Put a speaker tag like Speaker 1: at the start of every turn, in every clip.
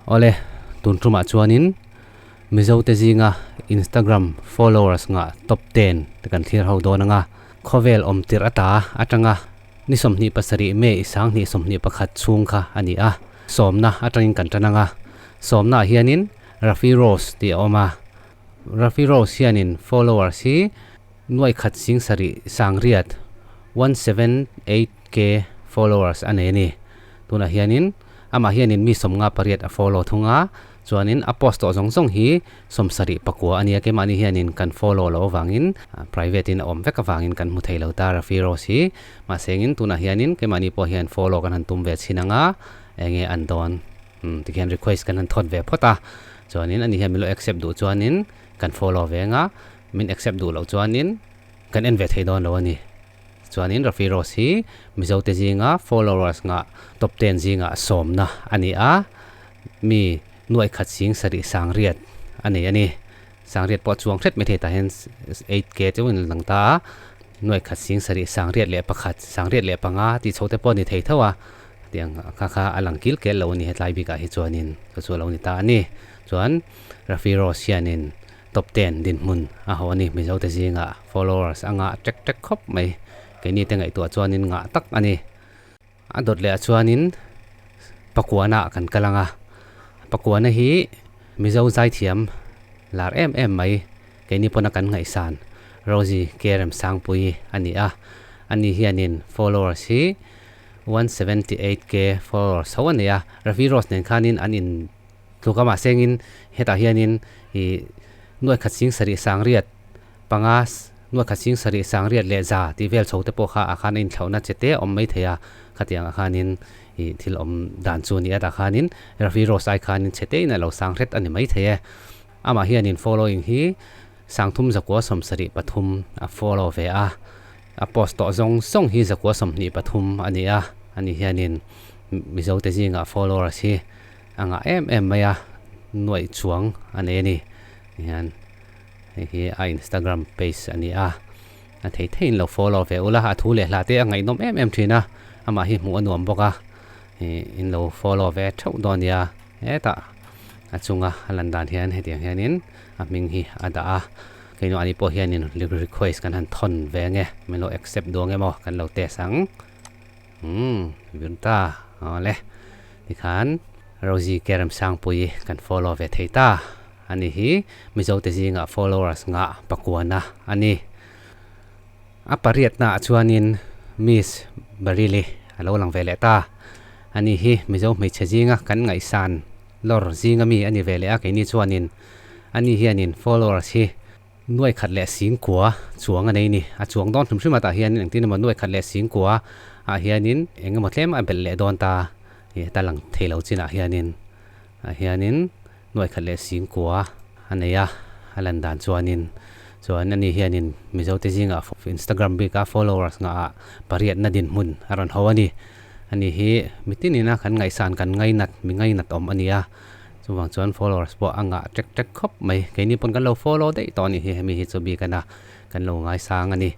Speaker 1: Awle, tun tumah chuanin Mizote zinga Instagram followers nga top ten te kan thlir ho dawn anga khawvel awm tirh a ta atanga ni sawmhnih pasarih mei i sanghnih sawmhnih pakhat chhung kha a ni a. Sawmna atangin kan tan anga sawmnaah hianin Rafi Rose tih a awm a. Rafi Rose hianin followers hi nuaikhat sing sarih sangriat one seven eight k followers a nei a ni. Tunah hianin amah hianin mi sawmnga pariat a follow thung a, chuanin a post tawh zawng zawng hi sawm sarih pakua a nia. Keimahni hianin kan follow loh avangin private in a awm vek avangin kan hmu thei lo ta Rafi Rose hi. Mahseng in tunah hianin keimahni pawh hian follow kan han tum ve chhin ang a, enge an dawn? Umm tikhian request kan han thawt ve phawt a, chuanin ani hian min lo accept duh chuanin kan follow ve anga min accept duh loh chuanin kan en ve thei dawn lo a ni. Tichuanin Rafi Rose hi Mizote zinga followers ngah top ten zingah a sawmna a ni a, mi nuai khat zing sarih Sangriat a nei a ni. Sangriat pawh a chuang hret mai thei tah hian eight K chauhin a la lang ta a, nuai khat zing sarih Sangriat leh pakhat, Sangriat leh panga tih chhote pawh a ni thei tho a, Tih ang kha kha a lang kil kel lo a ni. Hetlai bikah hi chuanin ka chu a lo ni ta a ni. Chuan Rafi Rose hianin top ten dinhmun a haw a ni. Mizote zinga followers a ngah ṭek ṭek khawp mai. Keinite ngaihtuah chuanin ngah tak a ni. A dawt lehah chuanin pakuanah kan kal ang a. Pakuana hi Mizo zaithiam lar em em mai keini pawna kan ngaihsan Rosy Kerem Sangpuii a ni a. Ani hianin followers hi one seventy eight K followers tho a nei a, Ravi Rose nen khanin an in tluk a mahsengin hetah hianin i Nuaikhat Sing Sarih Sangriat panga Nuaikhat Sing Sarih Sangriat leh Za tih vel chho te pawh kha ah khan a inthlauhna che te awm mai thei a, khatiang ah khanin i thil awm dan chu a ni a tah khanin Ravi Rose ai khanin che te in a lo sang hret a ni mai thei e. Amah hianin following hi Sangthum Zakua Sawmsarih pathum a follow ve a. A post tawh zawng zawng hi zakua sawmhnih pathum a ni a, a ni hianin Mizote zingah followers hi a ngah em em mai a, nuaih chuang a nei a ni. Ni hian hei hi a Instagram page a ni a, a thei thei in lo follow ve ula, a thu leh hla te a ngaihnawm em em thin a, amah hi hmuh a nuam bawk a, in lo follow ve theuh dawn a nia. Hetah a chunga a lan dan hian hetiang hianin a hming hi a dah a. Keino ani pawh hianin request kan han thawn ve nge milo accept duang nge maw kan lo test ang umm virta awle tikhan Rosie Keremsangpuii kan follow ve thei ta ani hi mizo te zinga followers nga pakuana ani a pariat na ah chuanin miss Bareilly a lo lang ve leh ta ani hi mizo hmeichhe zinga kan ngaihsan lawr zinga mi ani ve leh a keini chuanin Ani hianin followers hi nuaikhat leh singkua chuang a nei ni. A chuang dawn hrim hrim atah hianin engtin emaw nuaikhat leh singkua ah hianin engemaw tlem a belh leh dawn ta tih heta lang thei lo chinah hianin ah hianin nuaikhat leh singkua a nei a, a lan dan chuanin chuan ani hianin Mizote zingah Instagram bik a followers nghah ah pariatna dinhmun a rawn hau a ni. Ani hi mitinina kan ngaihsan kan ngainat mi ngainat awm a ni a. Chuvang chuan followers pawh a ngah ṭek ṭek khawp mai. Keini pawn kan lo follow daih tawh a ni hi hemi hi chu bik ina kan lo ngaisang a ni.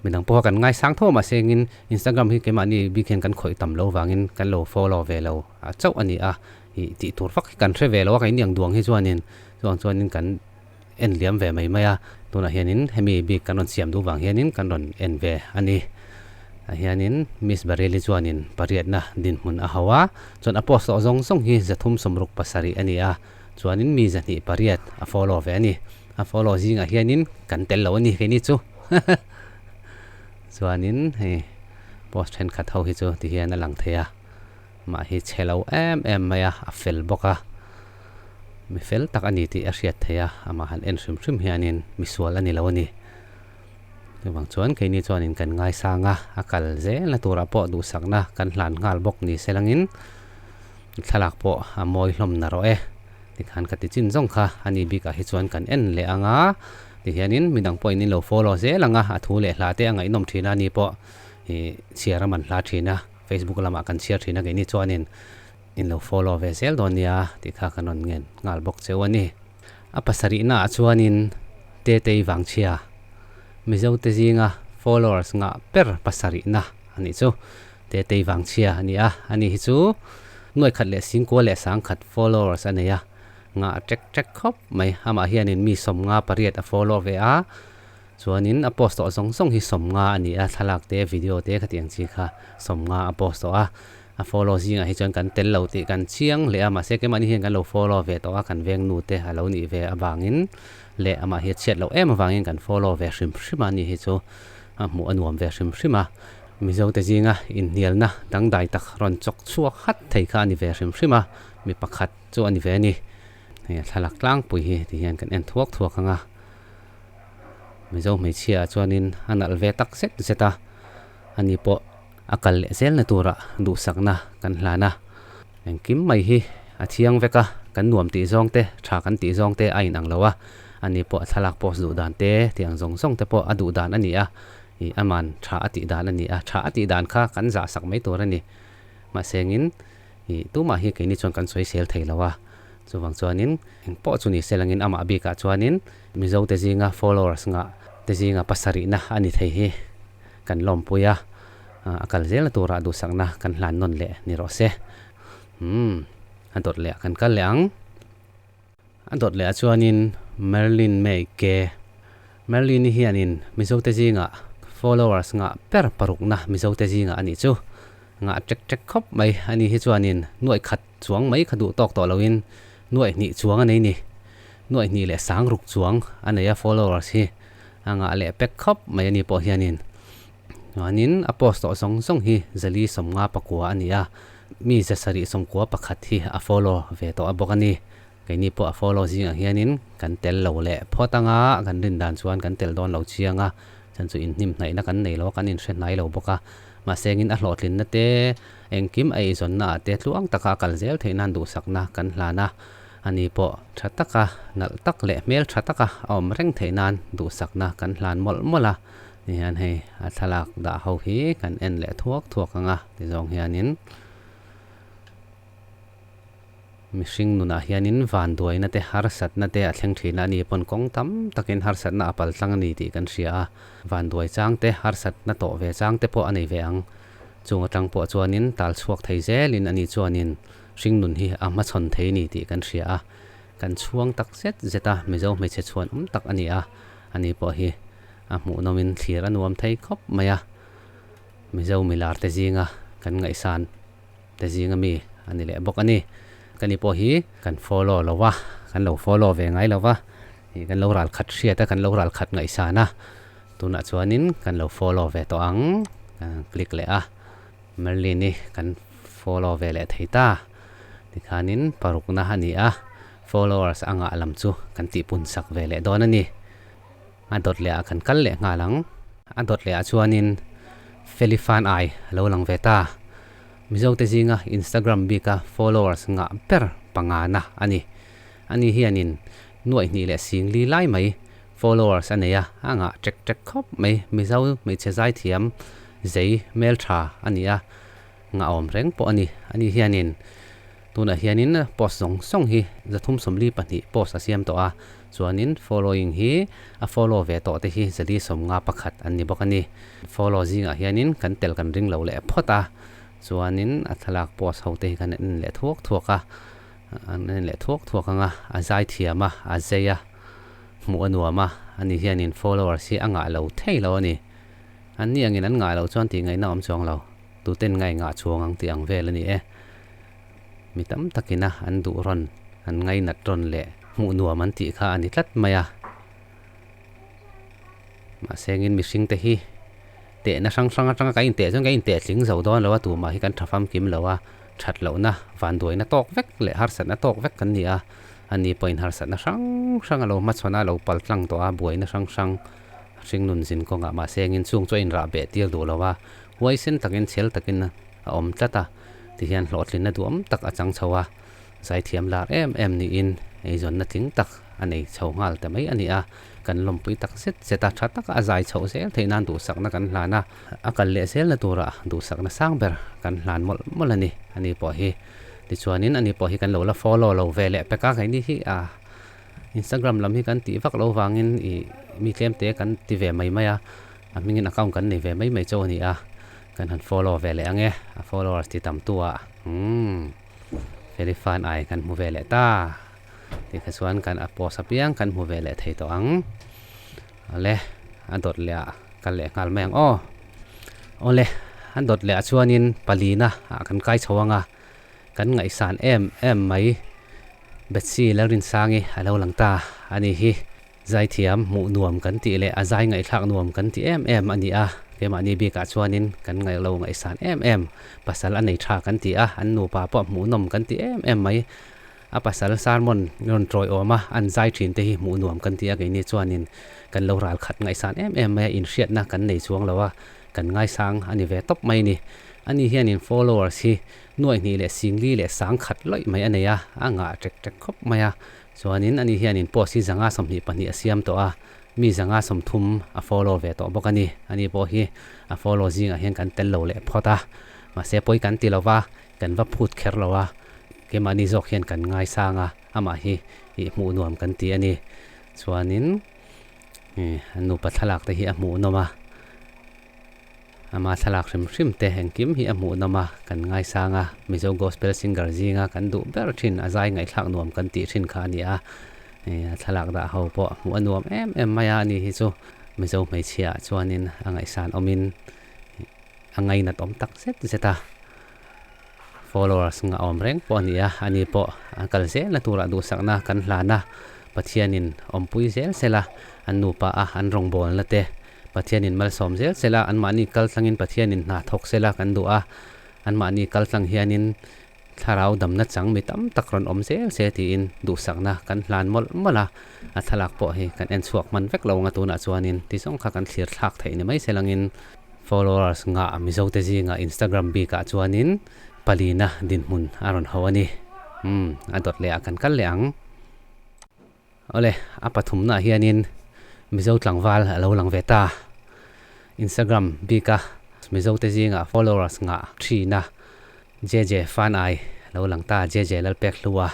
Speaker 1: Midang pawha kan ngaisang tho mah sengin Instagram hi keimahni bik hian kan khawih tam lo vangin kan lo follow ve lo chauh a ni a. Tih tur vak hi kan hre ve lo a keini ang duang hi chuanin chuvang chuanin kan en hliam ve mai mai a, tunah hianin hemi bik kan rawn siam duh vang hianin kan rawn en ve a ni. A hianin Miss Bareilly chuanin pariatna dinhmun a hau a, chuan a post lawh zawng zawng hi zathum sawmruk pasarih a ni a, chuanin mi zahnih pariat a follow ve a ni. A follow zingah hianin kan tel lo a ni keini chu. Chuanin hei post thenkhat ho hi chu tihian a lang thei a. mah hi che lo em em mai a, a fel bawk a. Mi fel tak a ni tih a hriat theih a, amah han en hrim hrim hianin misual a ni lo a ni. Chuvang chuan keini chuanin kan ngaisang a, a kal zelna turah pawh duhsakna kan hlan nghal bawk ni se langin thlalak pawh a mawi hlawmna rawh e, tikhan ka ti chin zawng kha, a ni bik ah hi chuan kan en leh ang a ti hianin midang pawhin in lo follow zel ang a, a thu leh hla te a ngaihnawm thin a ni pawh hi chhiar a man hla thin a. Facebook lamah kan chhiar thin a kei ni chuanin in lo follow ve zel dawn nia tih kha kan rawn ngen nghal bawk cheu a ni. A pasarihna ah chuanin Tetei Vangchhia Mizote zinga followers nghah ber pasarihna a nih chu. Tetei Vangchhia a ni a, a ni hi chu nuai khat leh singkual leh sang khat followers a nei a, nghah a ṭek ṭek khawp mai. Amah hianin mi sawmnga pariat a follow ve a. Chuanin a post tawh zawng zawng hi sawmnga a ni a, thlalak te video te khatiang chi kha sawmnga a post tawh a, a follow zingah hi chuan kan tel lo tih kan chiang leh a, mahse kemahni hian kan lo follow ve tawh a, kan vengnu te a lo nih ve avangin leh amah hi a chhiat loh em avangin kan follow ve hrim hrim a, a nih hi chu a hmuh a nuam ve hrim hrim a, Mizote zinga inhnialna dangdai tak rawn chawk chhuak hat thei kha a ni ve hrim hrim a, mi pakhat chu a ni ve a ni. Hei a thlalak tlangpui hi ti hian kan en thuak thuak ang a, Mizo hmeichhia chuanin a nalh ve tak zet zet a, ani pawh a kal leh zel na tura duhsakna kan hlan a, engkim mai hi a thiang vek a, kan nuam tih zawng te, tha kan tih zawng te a in ang lo a, ani pawh a thlalak post duh dan te tih ang zawng zawng te pawh a duh dan a ni a, ih a man tha a tih dan a ni a, tha a tih dan kha kan zahsak mai tur a ni, mahsengin. I tumah hi keini chuan kan sawi sel thei lo a, chuvang chuanin eng pawh chu ni selangin amah bikah chuanin Mizote zinga followers ngah te zinga pasarihna a ni thei hi kan lawmpui a, a kal zel a tura duhsakna kan hlan nawn leh ni rawh se. Umm a dawt leh a kan kal leh ang. A dawt leh a chuanin Merlin mei ke. Merlin-i hianin Mizote zingah followers nghah ber parukna Mizote zingah a nih chu. Nghah ṭek ṭek khawp mai a ni hi chuanin nuaih khat chuang mai kha duh tawk tawh loin nuaih hnih chuang a nei ni. Nuaih hnih leh sang ruk chuang a nei a followers hi. A nghah leh pek khawp mai a ni pawh hianin. Chuanin a post tawh zawng zawng hi Zali sawmnga pakua a ni a, mi zasarih sawmkua pakhat hi a follow ve tawh a bawk a ni. Keini pawh a follow zingah hianin kan tel lo leh phawt anga kan rin dan chuan kan tel dawn lo chiang a, chuan chu inhnemhnaihna kan nei lo a, kan inhre hnai lo bawk a. Mahse engin a hlawhtlinna te, engkim a eizawnna ah te tluang taka a kal zel theih nan duhsakna kan hlan a, ani pawh tha taka nalh tak leh hmel tha taka a awm reng theih nan duhsakna kan hlan mawlh mawlh a. Tihian hei a thlalak dah ho hi kan en leh thuak thuak ang a, tizawng hianin mihring nunah hianin vanduaina te harsatna te a thleng thin a, ani pawn kawng tam takin harsatna a pal tlang a ni tih kan hria a, vanduai chang te harsatna tawh ve chang te pawh a nei ve ang. Chung atang pawh chuanin tal chhuak thei zelin ani chuanin hringnun hi a hmachhawn thei a ni tih kan hria a, kan chhuang tak zet zet a Mizo hmeichhe chhuanawm tak a ni a, ani pawh hi. A hmuhnawmin thlir a nuam thei khawp mai a, Mizo milar te zinga kan ngaihsan te zinga mi a ni leh bawk a ni. Ka ni pawh hi kan follow lo a, kan lo follow ve ngai lo a, ih kan lo ral khat hriat a, kan lo ral khat ngaihsan a, tunah chuanin kan lo follow ve tawh ang. Ka click leh a, Merlin i kan follow ve leh thei ta tikhanin parukna a ni a, followers a ngah lam chu kan tihpunsak ve leh dawn a ni. a dawt leh ah kan kal leh nghal ang a dawt leh ah chuan in felifan ai a lo lang ve ta mizo te zinga instagram bik a followers ngah ber panga na a ni a ni hian in nuaih hnih leh sing li lai mai followers a nei a a ngah ṭek ṭek khawp mai mizo hmeichhe zai thiam zei hmel ṭha a ni a ngah awm reng pawh a ni a ni hian in tunah hian in post zawng zawng hi zathum sawmli pahnih post a siam tawh a. Chuanin following hi a follow ve tawh te hi zadi sawmnga pakhat an ni bawk a ni. Follow zingah hianin kan tel kan ring lo leh phawt a, chuanin a thlalak post ho te hi kan en leh thuak thuak a, an en leh thuak thuak anga a zai thiam a, a zei a, hmuh a nuam a, ani hianin followers hi a ngah lo thei lo a ni. An ni angin an ngah lo chuan tih ngaihna awm chuang lo, tute'n ngaihngah chuang ang tih ang vel a ni e. Mi tam takina an duh rawn, an ngainat rawn leh hmuh nuam an tih kha a ni tlat mai a. Mahse engin mihring te hi tehna hrang hrang atanga kan inteh chuan kan inteh tling zo dawn lo a, tumah hi kan tha fam kim lo a, that lohna vanduaina tawk vek leh harsatna tawk vek kan ni a, a ni pawhin harsatna hrang hrang a lo hmachhawn a, a lo pal tlang tawh a, buaina hrang hrang a hring nun zin kawnga mahse engin chung chu a inrah beh tir duh lo a, huaisen takin chhel takin a awm tlat a. ti hian hlawhtlin na duhawm tak a chang chho a, zaithiam lar em em niin eizawnna tling tak a nei chho nghal ta mai a ni a, kan lawmpui tak zet zet a, tha taka a zai chhoh zel theih nan duhsakna kan hlan a, a kal leh zel na tura duhsakna sang ber kan hlan mawlh mawlh a ni a ni pawh hi, tichuanin a ni pawh hi kan lo la follow lo ve leh pek a, keini hi a Instagram lam hi kan tih vak lo vangin i mi tlemte kan ti ve mai mai a, a hmingin account kan nei ve mai mai chau a ni a, Kan han follow ve leh ang e, a followers ti tam tu ah umm Felix fan ai kan hmu ve leh ta tih kha chuan kan a post apiang kan hmu ve leh thei tawh ang awle a dawt leh ah kal leh nghal mai ang aw awle a dawt leh ah chuan in pali na ah kan kai chho anga kan ngaih san em em mai Betsy Lalrinsangi a lo lang ta a ni hi. Zaithiam hmuh nuam kan tih leh a zai ngaihthlak nuam kan ti em em a ni a, keimahni bikah chuanin kan ngaihlo ngaihsan em em. Pasal a nei tha kan ti a, an nupa pawh hmuh nawm kan ti em em mai. A pasal sermon i rawn ṭawiawm a, an zai ṭhinte hi hmuh nuam kan ti a, keini chuanin kan lo ralkhat ngaihsan em em mai a, inhriatna kan nei chuang lo a, kan ngaisang a ni ve tawp mai a ni. Ani hianin followers hi nuaihnih leh singli leh sangkhat loih mai a nei a, a ngah ṭek ṭek khawp mai a, Chuanin ani hianin post hi zanga sawmhnih pahnih a siam tawh a, mi zanga sawmthum a follow ve tawh bawk a ni. Ani pawh hi a follow zingah hian kan tel lo leh phawt a, mahse pawi kan ti lova, kan va phut kher lo a, keimahni zawk hian kan ngaisang a, amah hi i hmuh nuam kan ti a ni. Chuanin nupa thlalakte hi a hmuhnawm a. Amah thlalak hrim hrim te engkim hi a hmuh nawm a, kan ngaisang a, Mizo Gospel Singer zinga kan duh ber thin, a zai ngaihthlak nuam kan tih thin kha a ni a, a thlalak dah ho pawh hmuh a nuam em em mai a, ani hi chu Mizo hmeichhia ah chuan in a ngaihsan awm in a ngainat awm tak zet zet a. Followers nghah awm reng pawh a ni a, ani pawh an kal zel na tura duhsakna kan hlan a, Pathianin awmpui zel zel a, an nupa a an rawngbâwl na te, Pathianin malsawm zel zel a, anmahni kaltlangin Pathianin hna thawk zel a kan duh a, anmahni kaltlang hianin thlarau damna chang mi tam tak rawn awm zel che tiin duhsakna kan hlan mawlh mawlh a, a thlalak pawh hi kan en chhuak hman vek lo nga tunah chuanin ti zawng kha kan thlir thlak theih ni mai se langin, Followers nghah Mizote zinga Instagram bik ah chuanin pali na dinhmun a rawn hau a ni. Umm a dawt leh a kan kal leh ang. Awle a pathum na ah hianin Mizo tlangval alo lang ve ta. Instagram bik a Mizote zinga followers nghah thi na JJ fan ai lo lang ta JJ Lalpek hlua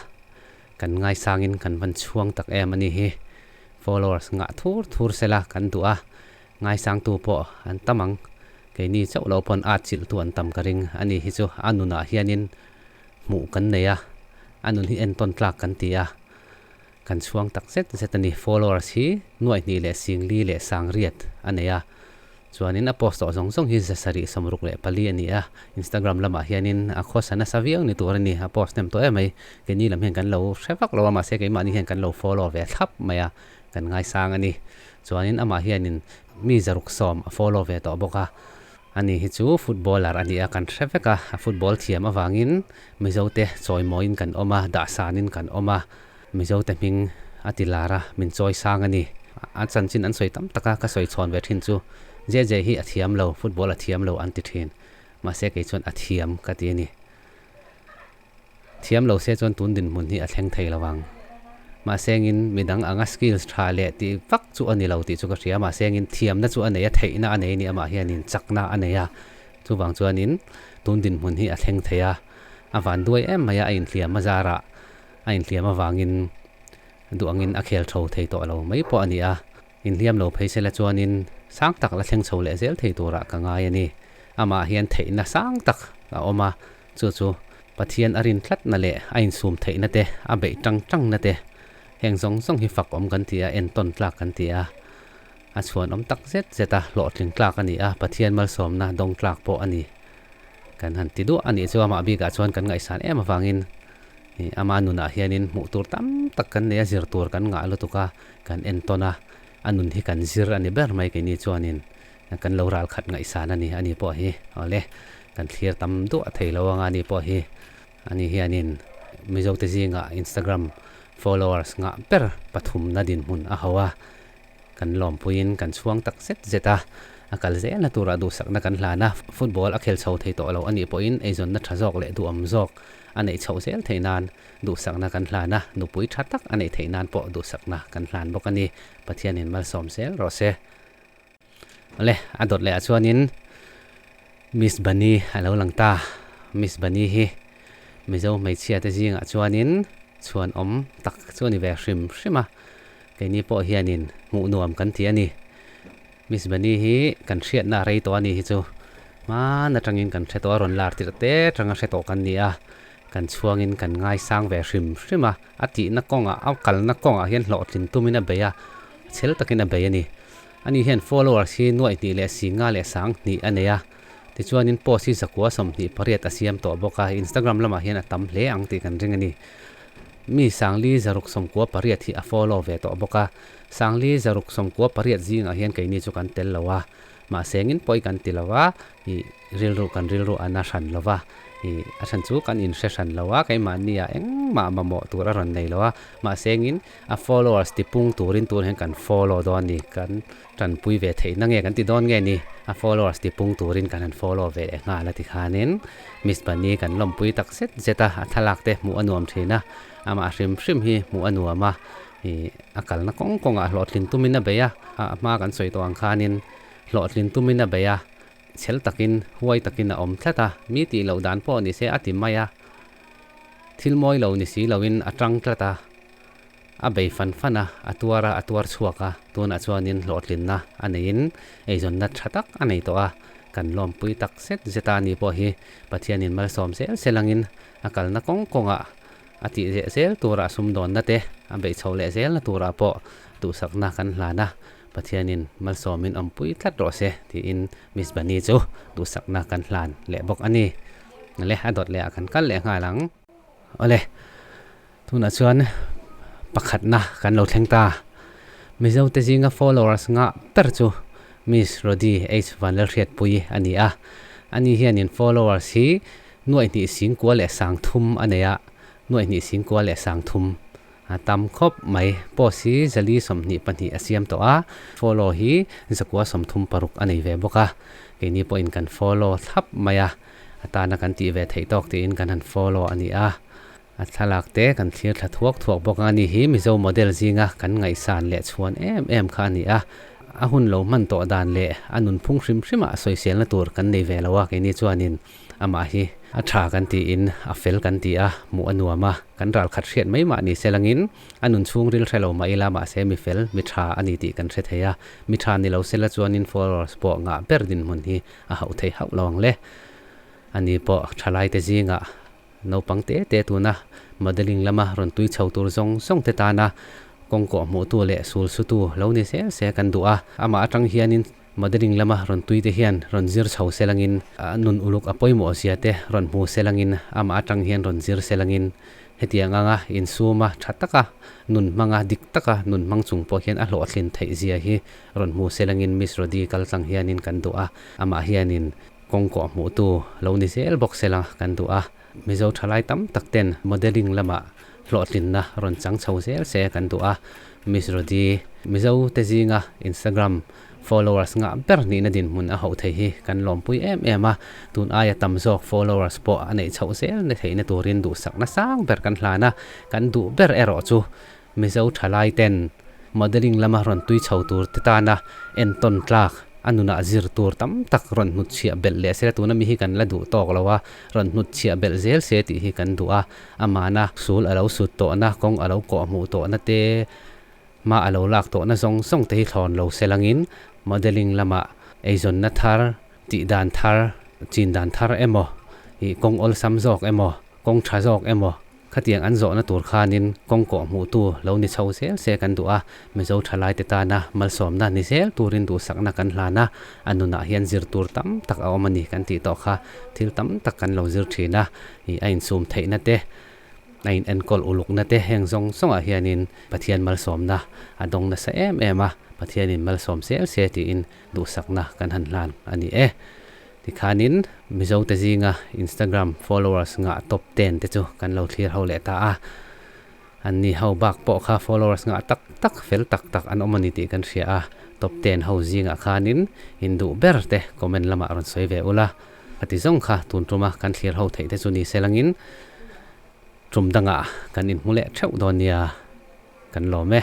Speaker 1: kan ngaisang in kan van chhuang tak em a ni hi. Followers nghah thur thur sela kan duh a Ngaisangtu pawh an tam ang. Keini chauh lo pawn art chilhtu an tam ka ring. A ni hi chu a nunah hianin hmuh kan nei a, a nun hi entawn tlak kan ti a, kan chhuang tak zet zet a ni. Followers hi nuaihnih leh singli leh sangriat a nei a, chuanin a post awh zawng zawng hi za sarih sawm ruk leh pali a ni a. Instagram lamah hianin a khawsa nasa viau ni tur a ni, a post hnem tawh em mai. Keini lam hian kan lo hre vak lo a, mahse keimahni hian kan lo follow ve thlap mai a. kan ngaisang a ni. Chuanin amah hianin mi zaruk sawm a follow ve tawh bawk a, a ni hi chu footballer a nia kan hre vek a, a football thiam avangin Mizote chawimawiin kan awm a, dahsanin kan awm a, Mizote hming a ti lar a, min chawi sang a ni. A chanchin an sawi tam tak a, ka sawi chhawn ve thin chu JJ hi a thiam lo, football a thiam lo an ti thin, mahse kei chuan a thiam ka ti a ni. Thiam lo se chuan tun dinhmun hi a thleng thei lo ang. Mahse engin midang anga skills tha leh ti vak chu a ni lo tih chu ka hria. Mahse engin thiamna chu a nei a, theihna a nei ni amah hianin chakna a nei a. Chuvang chuanin tun dinhmun hi a thleng thei a. A van duai em mai a, a inhliam a zara a inhliam avangin duh angin a khel tho thei tawh lo mai pawh a ni a. Inhliam lo phei sela chuanin sang tak la thleng chho leh zel thei tura ka ngai a ni. Amah hian theihna sang tak a awm a. Chu chu Pathian a rin tlatna leh a insum theihna te, a beih ṭang ṭangna te, heng zawng zawng hi fakawm kan ti a, entawn tlak kan ti a. A chhuanawm tak zet zet a hlawhtling tlak a ni a, Pathian malsawmna dawng tlak pawh a ni. Kan han ti duah a nih chu amah bikah chuan kan ngaihsan em avangin ama nunah hianin hmuh tur tam tak kan nei a, zir tur kan ngah lutuk a, kan entawn a, a nun hi kan zir a ni ber mai keini chuanin. Kan lo ral khat ngaihsan a ni a ni pawh hi awle kan thlir tam duah thei lo anga ni pawh hi a ni hianin Mizote zinga Instagram followers nghah ber pathumna dinhmun a ho a, kan lawmpuiin kan chhuang tak zet zet a, a kal zelna tura duhsakna kan hlan a, football a khel chho thei tawh lo a nih pawhin eizawnna tha zawk leh duhawm zawk a neih chhoh zel theih nan duhsakna kan hlan a, nupui tha tak a neih theih nan pawh duhsakna kan hlan bawk a ni, Pathianin malsawm zel rawh se. Awle a dawt leh ah chuanin Miss Bani a lo lang ta. Miss Bani hi Mizo hmeichhia te zing ah chuanin chhuan awm tak chu a ni ve hrim hrim a. Keini pawh hianin hmuh nuam kan ti a ni. Miss Bani hi kan hriatna a rei tawh a nih hi chu hman atangin kan hre tawh a, rawn lar tirh te tang a hre tawh kan ni a. Kan chhuangin kan ngaisang ve hrim hrim a. A tihna kawngah, a kalna kawngah hian hlawhtlin tumin a bei a. Chhel takin a bei a ni. Ani hian followers hi nuaih hnih leh si nga leh sang hnih a nei a. Tichuanin post hi zakua sawmhnih pariat a siam tawh bawk a, Instagram lamah hian a tam hle ang tih kan ring a ni. Mi sangli zaruk sawmkua pariat hi a follow ve tawh bawk a. Sangli zaruk sawmkua pariat zingah hian keini chu kan tel lo a, mahsengin pawi kan ti lo a, ih, rilru kan rilru a na hran lova, ih, a then chu kan inhre hran lo a, keimahniah engmah mamawh tur a rawn nei lo a, mahsengin A followers tipung turin tun hian kan follow dawn ni, kan tanpui ve theihna nge kan ti dawn nge ni? A followers tipung turin kan han follow ve leh nghal a ti khanin Miss Bunny kan lawmpui tak zet zet a, a thlalak te hmuh a nuam thin a, amah hrim hrim hi hmuh a nuam a, a kalna kawng kawng ah hlawhtlin tumin a bei a, a hma kan sawi tawh ang khanin hlawhtlin tumin a bei a, chhel takin huai takin a awm tlat a, mi tih loh dan pawh ni se a ti mai a. Thil mawi lo ni si loin a ṭang tlat a, a bei fan fan a, a tuar a, a tuar chhuak a, tunah chuanin hlawhtlinna a neiin eizawnna ṭha tak a nei tawh a, kan lawmpui tak zet zet a ni pawh hi Pathianin malsawm zel zel angin a kalna kawng kawngah a tih zeh zel tura a sum dawnna te a beih chho leh zelna turah pawh duhsakna kan hlan a, Pathianin malsawmin awmpui tlat rawh se tiin Miss Bunny chu duhsakna kan hlan leh bawk a ni. Nale, a dawt leh ah kan kal leh nghal ang. Awle, tunah chuan pakhatna kan lo thleng ta. Mizo te zinga followers nghah ber chu Miss Rodi H Vanlalhriatpuii a ni a. Ani hian in followers hi nuaihnih singkua leh sangthum a nei a. Nuaihnih singkua leh sangthum. A tam khawp mai. Post hi Zali sawmhnih pahnih a siam tawh a, follow hi Zakua sawmthum paruk a nei ve bawk a. Keini pawhin kan follow thlap mai a, atana kan tih ve theih tawk tiin kan han follow a ni a. A thlalak te kan thlir thla thuak thuak bawk a, ni hi Mizo model zinga kan ngaihsan leh chhuan em em kha a ni a. A hun lo hman tawh dan leh a nunphung hrim hrimah sawiselna tur kan nei ve lo a, keini chuanin. Amah hi a tha kan tiin a fel kan ti a, hmuh a nuam a, kan ral khat hriat mai mah ni se langin a nun chhung ril hre lo mah ila mahse mi fel, mi tha a ni tih kan hre thei a. Mi tha ni lo sela chuanin followers pawh ngah ber dinhmun hi a hauh thei hauh lo ang le. A ni pawh thalaite zingah naupang te te tuna modelling lama rawn tui chho tur zawng zawng te tana kawngkawh hmuhtu leh sul sutu lo ni sel se kan duh a. Amah atang hianin. Modelling lama rawn tuite hian rawn zir chho selangin, a nun uluk a pawimawhzia te rawn hmu selangin, amah atang hian rawn zir selangin hetiang anga insuma tha taka, nun hmanga dik taka nun hmang chung pawh hian a hlawhthlin theih zia hi rawn hmu selangin Miss Rodi kal chang hianin kan duh a, amah hianin kawngkawh hmuhtu lo ni zel bawk sela kan duh a. Mizo thalai tam tak ten modelling lama hlawhtlinna rawn chang chho zel se kan duh a, Miss Rodi Mizo te zinga Instagram followers nghah ber nihna dinhmun a hauh thei hi kan lawmpui em em a, tun aia tam zawk followers pawh a neih chhoh zel ni theihna turin duhsakna sang ber kan hlan a, kan duh ber erawh chu Mizo tha laiten modelling lama rawn tui chho tur te tana entawn tlak, a nunah zir tur tam tak rawn hnut chhiah belh leh se la tuna mi hi kan la duh tawk lo a, rawn hnut chhiah belh zel se tih hi kan duh a, amahna sul a lo sut tawhna, kawng a lo kawh hmuh tawhna te, hma a lo lak tawhna zawng zawng te hi thlawn lo se langin modelling lama eizawnna thar, tih dan thar, chin dan thar emaw, ih kawng awlsam zawk emaw, kawng tha zawk emaw, Khatiang an zawhna tur khanin kawngkawh hmuhtu lo ni chho zel se kan duh a, Mizo tha laite tana malsawmna ni zel turin duhsakna kan hlan a, a nunah hian zir tur tam tak a awm a ni kan tih tawh kha thil tam tak kan lo zir thin a, ih a insum theihna te, a inenkawl ulukna te heng zawng zawngah hianin Pathian malsawmna a dawng nasa em em a, Pathianin malsawm zel se tiin duhsakna kan han hlan a ni e. Tikhanin Mizote zinga Instagram followers nghah top ten te chu kan lo thlir ho leh ta a, an ni ho bak pawh kha followers nghah tak tak fel tak tak an awm a ni tih kan hria a, top ten ho zingah khanin induh ber te comment lamah rawn sawi ve ula, a ti zawng kha tun tuma kan thlir ho theih te chu ni sel angin tum danga kan in hmu leh theuh dawn nia kan lawm e.